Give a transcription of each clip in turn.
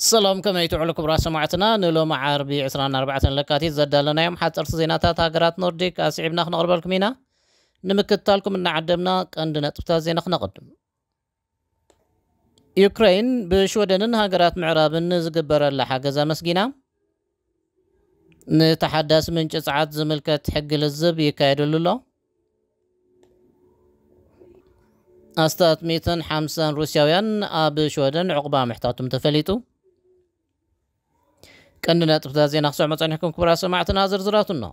ሰላም ከመይ ትውዕሉ ክቡራት ሰማዕትና ንሎሚ ዓርቢ ዕስራን ኣርባዕተን ለካቲት ዘዳለናዮም ሓጸርቲ ዜናታት ሃገራት ኖርዲክ ኣስዒብና ክነቕርበልኩም ኢና ንምክትታልኩም እናዓደምና ቀንዲ ነጥብታት ዜና ክነቕድም ዩክረይን ብሽወደንን ሃገራት ምዕራብን ንዝግበረላ ሓገዝ ኣመስጊና ንተሓዳሲ ምንጪ ጸዓት ዝምልከት ሕጊ ልዝብ ይካየደሉ ኣሎ። ኣስታት ሚእትን ሓምሳን ሩስያውያን ኣብ ሽወደን ዕቑባ ምሕታቶም ተፈሊጡ። ቀንዲ ነጥብታት ዜና ክሰዕሞ ጸኒሕኩም ክቡራት ሰማዕትና ዝርዝራቱ እነሆ።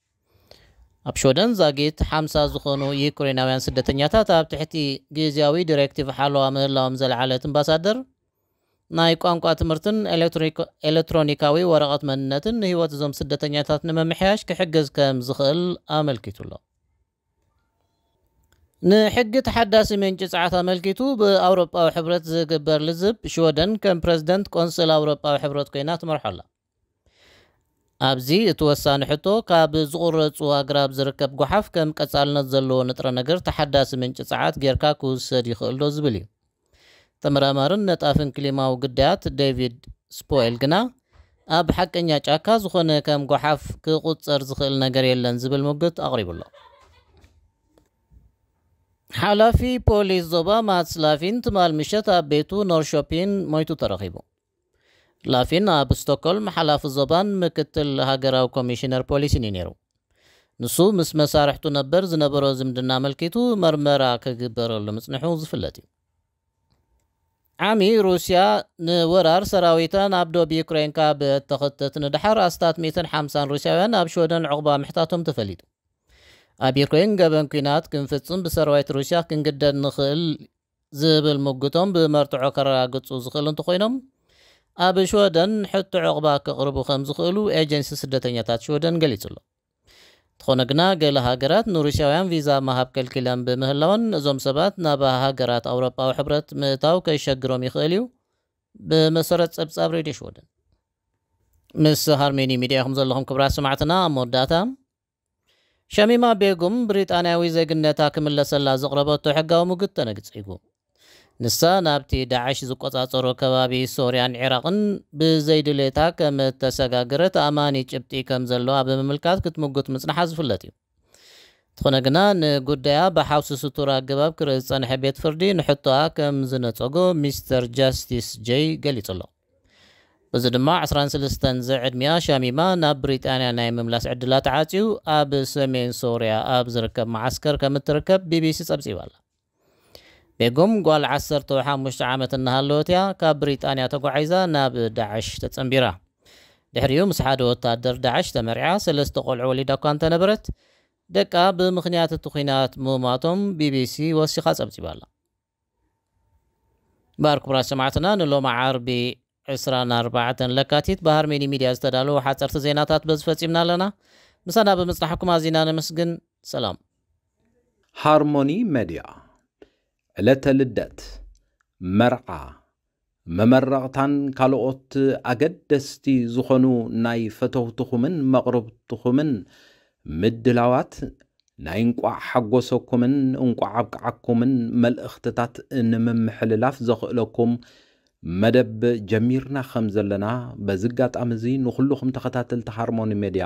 ኣብ ሽወደን ዛጊት ሓምሳ ዝኾኑ ዩክሬናውያን ስደተኛታት ኣብ ትሕቲ ግዝያዊ ዲሬክቲቭ ሓለዋ ምህላዎም ዘልዓለት እምባሳደር፣ ናይ ቋንቋ ትምህርትን ኤለትሮኒካዊ ወረቐት መንነትን ንህይወት እዞም ስደተኛታት ንምምሕያሽ ክሕግዝ ከም ዝኽእል ኣመልኪቱ'ሎ። ንሕጊ ተሓዳሲ ምንጪ ጸዓት ኣመልኪቱ ብኣውሮጳዊ ሕብረት ዝግበር ልዝብ፣ ሽወደን ከም ፕረዚደንት ቆንስል ኣውሮጳዊ ሕብረት ኮይና ትመርሖ ኣላ። ኣብዚ እቲ ወሳኒ ሕቶ ካብ ዝቑረጹ ኣግራብ ዝርከብ ጎሓፍ ከም ቀጻልነት ዘለዎ ንጥረ ነገር ተሓዳሲ ምንጪ ጸዓት ጌርካ ክውሰድ ይኽእልዶ ዝብል እዩ። ተመራማርን ነጣፍን ክሊማዊ ግዳያት ዴቪድ ስፖኤል ግና ኣብ ሓቀኛ ጫካ ዝኾነ ከም ጎሓፍ ክቑጸር ዝኽእል ነገር የለን ዝብል ሙግት ኣቕሪቡ ኣሎ። ሓላፊ ፖሊስ ዞባ ማትስላፊን ትማል ምሸት ኣብ ቤቱ ኖርሾፒን ሞይቱ ተረኺቡ። ላፊን ኣብ ስቶኮልም ሓላፊ ዞባን ምክትል ሃገራዊ ኮሚሽነር ፖሊስን እዩ ነይሩ። ንሱ ምስ መሳርሕቱ ነበር ዝነበሮ ዝምድና ኣመልኪቱ መርመራ ክግበረሉ ምጽንሑ ዝፍለጥ እዩ። ዓሚ ሩስያ ንወራር ሰራዊታ ናብ ዶብ ዩክረይን ካብ እተኸተት ንደሓር ኣስታት ሚእትን ሓምሳን ሩስያውያን ኣብ ሽወደን ዑቕባ ምሕታቶም ተፈሊጡ። ኣብ ዩክረይን ገበን ኲናት ክንፍጽም ብሰራዊት ሩስያ ክንግደድ ንኽእል ዝብል ሙግቶም ብመርትዖ ከረጋግጹ ዝኽእሉ እንተኾይኖም፣ ኣብ ሽወደን ሕቶ ዑቕባ ከቕርቡ ከም ዝኽእሉ ኤጀንሲ ስደተኛታት ሽወደን ገሊጹ ኣሎ። እንተኾነ ግና ገለ ሃገራት ንሩስያውያን ቪዛ ምሃብ ከልኪለን ብምህላወን፣ እዞም ሰባት ናብ ሃገራት ኣውሮጳዊ ሕብረት ምእታው ከሸግሮም ይኽእል እዩ። ብመሰረት ጸብጻብ ሬድዮ ሽወደን። ምስ ሃርሜኒ ሚድያ ኢኹም ዘለኹም ክብራት ሰማዕትና ኣብ መወዳእታ። ሸሚማ ቤጉም፣ ብሪጣንያዊ ዜግነታ ክምለሰላ ዘቕረበቶ ሕጋዊ ሙግት ተነግጺጉ። ንሳ ናብቲ ዳዕሽ ዝቆጻጸሮ ከባቢ ሶርያን ዒራቕን ብዘይድሌታ ከም እተሰጋገረት ኣእማኒ ጭብጢ ከም ዘለዋ ብምምልካት ክትምጉት ምጽንሓ ዝፍለጥ እዩ። እንተኾነ ግና ንጉዳያ ብሓውሲ ስቱር ኣገባብ ክርኢ ዝጸንሐ ቤት ፍርዲ ንሕቶኣ ከም ዝነጸጎ ሚስተር ጃስቲስ ጀይ ገሊጹ ኣሎ። በዚ ድማ ዕስራን ሰለስተን ዝዕድሚኣ ሻሚማ ናብ ብሪጣንያ ናይ ምምላስ ዕድላ ተዓጽዩ ኣብ ሰሜን ሶርያ ኣብ ዝርከብ መዓስከር ከም እትርከብ ቢቢሲ ጸብጺባ ኣላ። ቤጉም ጓል ዓሰርተው ሓሙሽተ ዓመት እናሃለወት እያ ካብ ብሪጣንያ ተጓዒዛ ናብ ዳዕሽ ተጸንቢራ። ድሕሪኡ ምስ ሓደ ወታደር ዳዕሽ ተመርዕያ ሰለስተ ቆልዑ ወሊዳ እኳ እንተነበረት፣ ደቃ ብምኽንያት እቲ ኲናት ምሟቶም ቢቢሲ ወሲኻ ጸብጺባ ኣላ። ባር ክቡራት ሰማዕትና ንሎሚ ዓርቢ ዕስራን ኣርባዕተን ለካቲት ብሃርሜኒ ሚድያ ዝተዳለዉ ሓፀርቲ ዜናታት በዚ ፈፂምና ኣለና። ምሳና ብምፅናሕኩም ኣዚና ነመስግን። ሰላም። ሃርሞኒ መድያ ዕለተ ልደት፣ መርዓ፣ መመረቕታን ካልኦት ኣገደስቲ ዝኾኑ ናይ ፈተውትኹምን መቕርብትኹምን ምድላዋት ናይ እንቋዕ ሓጎሰኩምን እንቋዕ ኣብቅዓኩምን መልእኽትታት ንምምሕልላፍ ዘኽእለኩም መደብ ጀሚርና ከም ዘለና በዚ ኣጋጣሚ እዚ ንኹሉኹም ተኸታተልቲ ሃርሞኒ ሜድያ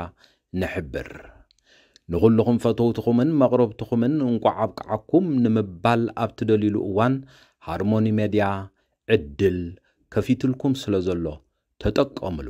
ንሕብር። ንኹሉኹም ፈተውትኹምን መቕረብትኹምን እንቋዕ ኣብቅዓኩም ንምባል ኣብ ትደልዩሉ እዋን ሃርሞኒ ሜድያ ዕድል ከፊትልኩም ስለዘሎ ተጠቀምሉ።